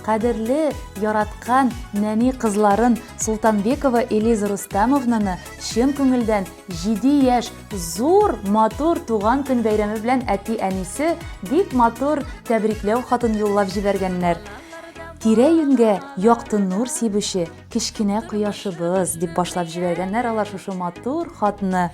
Кадерле, яраткан нәни кызларын Султанбекова Элиза Рустамовнаны чын күңелдән 7 яшь зур матур туган көн бәйрәме белән әти-әнисе бик матур тәбрикләү хатын юллап җибәргәннәр. Тирә-юньгә якты нур сибүче кечкенә кояшыбыз, дип башлап җибәргәннәр алар шушы матур хатны.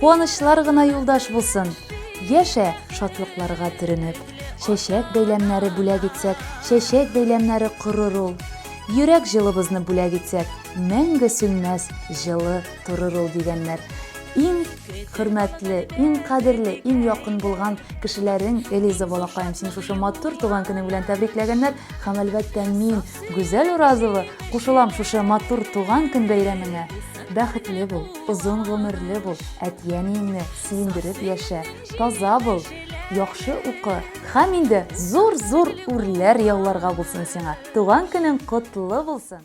Куанычлар гына юлдаш булсын! Яшә, шатлыкларга төренеп! Чәчәк бәйләмнәре бүләк итсәк, Чәчәк бәйләмнәре корыр ул. Йөрәк җылыбызны бүләк итсәк, Мәңге сүнмәс, җылы торыр ул, дигәннәр. Иң хөрмәтле, иң кадерле, иң якын булган кешеләрең Элиза балакаем, сине шушы матур туган көнең белән тәбрикләгәннәр һәм, әлбәттә, мин, Гүзәл Уразова, кушылам шушы матур туган көн бәйрәмеңә. Бәхетле бул, озын гомерле бул, әти-әниеңне сөендереп яшә, таза бул, яхшы укы һәм инде зур-зур үрләр яуларга булсын сиңа. Туган көнең котлы булсын!